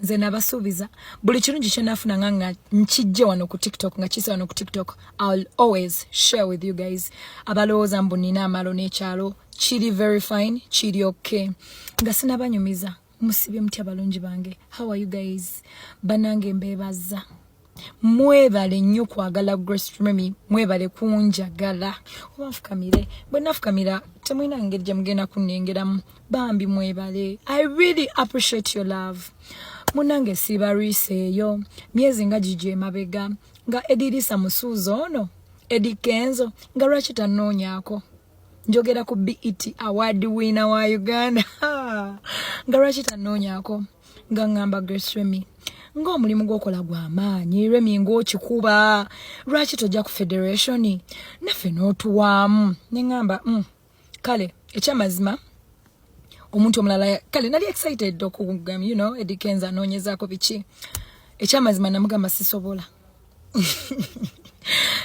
nze nabasuubiza buli kirungi kyenafuna nga nga nkijje wano ku tiktok nga kisa wano ku tiktok ill always share with you guys abalowooza mbu nina amalo n'ekyalo kiri very fine kiri okay nga sinabanyumiza musibye mutya balungi bange how are you guys banange mbebaza mwebale nnyo kwagala grace remy mwebale kunjagala oba nfukamire bwe nafukamira temulina ngeri gye mugenda kunnengeramu bambi mwebale i really appreciate your love munange sibalwisa eyo myezi nga gigyo emabega nga edirisa musuuza ono edi kenzo nga lwaki tanoonyako njogera ku bet award wina wa uganda nga lwaki tanoonyako nga ngamba grace remy ng'omulimu gwokola gwa maanyi remi ng'okikuba lwaki tojja ku federation naffe n'otuwaamu ne ŋŋamba mm, kale ekyamazima omuntu omulala kale nali excited okugam you know edikenza anoonyezaako biki ekyamazima namugamba sisobola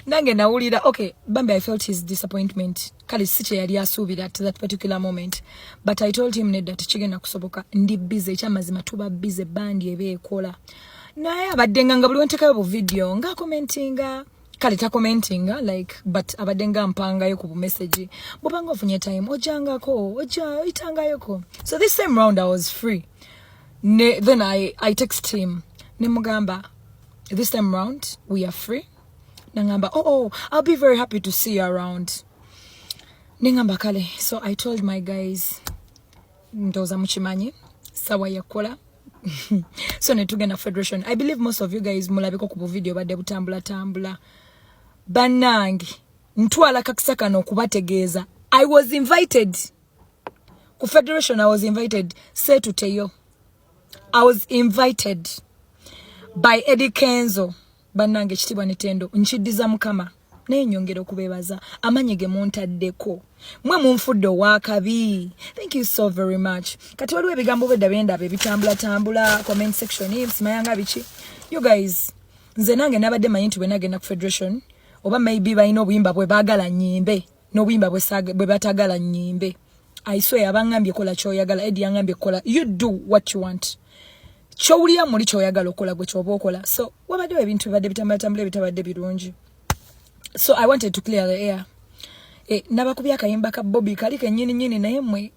nange nawulira okay bambi i felt his disappointment kale si kyeyali asuubira at that particular moment but i told him nedda tekigenda kusoboka ndi bize ekyamazima tuba bize bandi eba ekola naye abadde nga nga buli wentekayo bu video nga commentinga kale ta commentinga like but abadde nga mpangayo ku bumessage bubanga ofunye time ojangako oja oyitangayoko so this same round i was free ne, then i, I text him nemugamba this time round we are free nangamba oh, oh i'll be very happy to see you around nengamba kale so i told my guys ndoza mukimanyi sawa yakola so netugenda federation i believe most of you guys mulabiko ku buvidiyo badde butambula tambula banange ntwala kakisa kano okubategeeza i was invited ku federation i was invited setuteyo I was invited by Eddie Kenzo banange kitibwa netendo nkidiza mukama naye nyongera okubebaza amanye ge muntaddeko mwe munfudde owakabi thank you so very much kati waliwo ebigambo bwedda byendaba ebitambula tambula comment section simayanga biki you guys nze nange nabadde manyi nti bwenagenda ku federation oba maybe balina obuyimba bwe bagala nyimbe nobuyimba bwe batagala nyimbe aiswe yabangambye kola kyoyagala edi yangambye kola you do what you want kyowulira muli kyoyagala okola gwe kyoba okola so wabaddewo ebintu bibadde bitambulatambula ebitabadde birungi so i wanted to clear the air e, eh, nabakubya akayimba ka bobi kali kenyini nyini naye mwe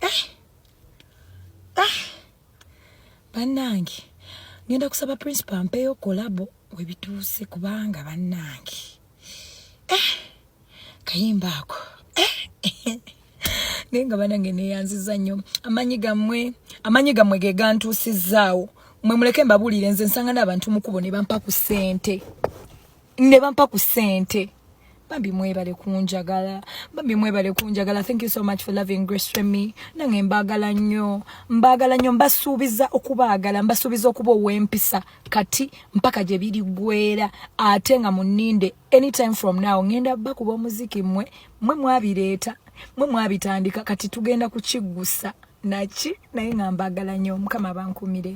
eh, eh, banange ngenda kusaba principal mpeyo kolabo webituuse kubanga banange eh, kayimba ako eh, naye nga banange neyanziza nnyo amanyi gammwe amanyi gammwe ge gantuusizaawo mwe muleke mbabuulire nze nsanga n'abantu mukubo ne bampa ku ssente ne bampa ku ssente bambi mwebale kunjagala bambi mwebale kunjagala thank you so much for loving grace remy nange mbagala nnyo mbagala nnyo mbasuubiza okubaagala mbasuubiza okuba ow'empisa kati mpaka gye birigwera ate nga muninde anytime from now ngenda bakuba omuziki mwe mwe mwabireeta mwe mwabitandika kati tugenda kukiggusa naki naye nga mbagala nyo mukama bankumire